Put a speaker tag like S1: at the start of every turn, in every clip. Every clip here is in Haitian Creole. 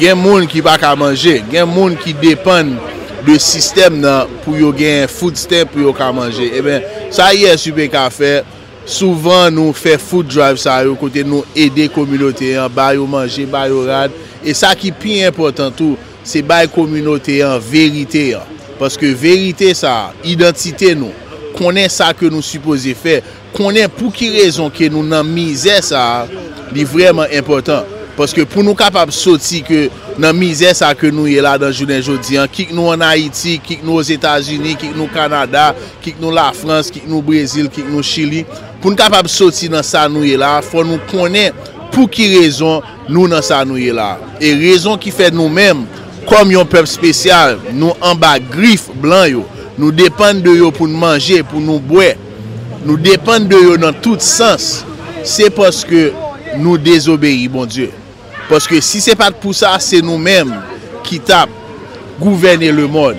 S1: Gen moun ki pa ka manje. Gen moun ki depann de sistèm nan pou yo gen food stamp pou yo ka manje. Eben, sa ISUPK fè, souvan nou fè food drive sa yo kote nou ede kominote an, ba yo manje, ba yo rad. E sa ki pi enpòtan tou, se bay kominote an verite an. Paske verite sa a, idantite nou, konnen sa ke nou sipoze fè, Konnen pou ki rezon ke nou nan mizè sa a, li vrèman enpòtan. Paske pou nou kapab soti ke nan mizè sa ke nou ye ladan jounen jodi an, kik nou an Ayiti, kik nou Ozetazini, kik nou Kanada, kik nou Lafrans, kik nou Brezil, kik nou Chili, pou nou kapab soti nan sa nou ye la a, fò nou konnen pou ki rezon nou nan sa nou ye la a. E rezon ki fè nou menm, kòm yon pèp spesyal, nou anba grif blan yo, nou depann de yo pou nou manje, pou nou bwè, Nou depann de yo nan tout sans, se paske nou dezobeyi Bondye. Paske si se pa t pou sa, se nou menm ki t ap gouvène lemonn.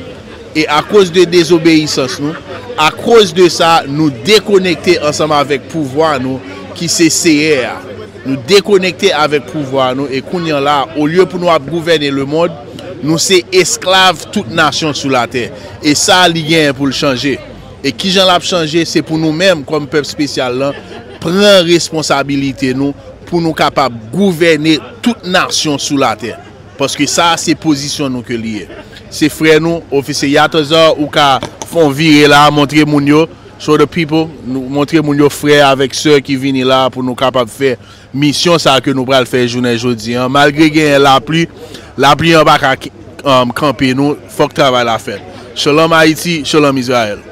S1: E akoz de dezobeyisans nou, akoz de sa, nou dekonekte ansanm avèk pouvwa nou ki se Seyè a. Nou dekonekte avèk pouvwa nou e kounye la, olye pou nou ap gouvène lemonn, nou se esklav tout nasyon sou latè. E sa li genyen pou l chanje. E kijan l ap chanje? Se pou nou menm kòm pèp spesyal lan pran responsabilite nou pou nou kapab gouvène tout nasyon sou latè. Paske sa a se pozisyon nou ke li ye. Se frè nou, Ofisye Yatazar, ou ka fè yon vire la a, montre moun yo, show the people, montre moun yo frè avèk sè ki vini la a pou nou kapab fè misyon sa a ke nou pral fè jounen jodi an. Malgre genyen lapli, lapli an pa ka kanpe nou, fòk travay la fèt. Shalom Ayiti, Shalom Izrayèl.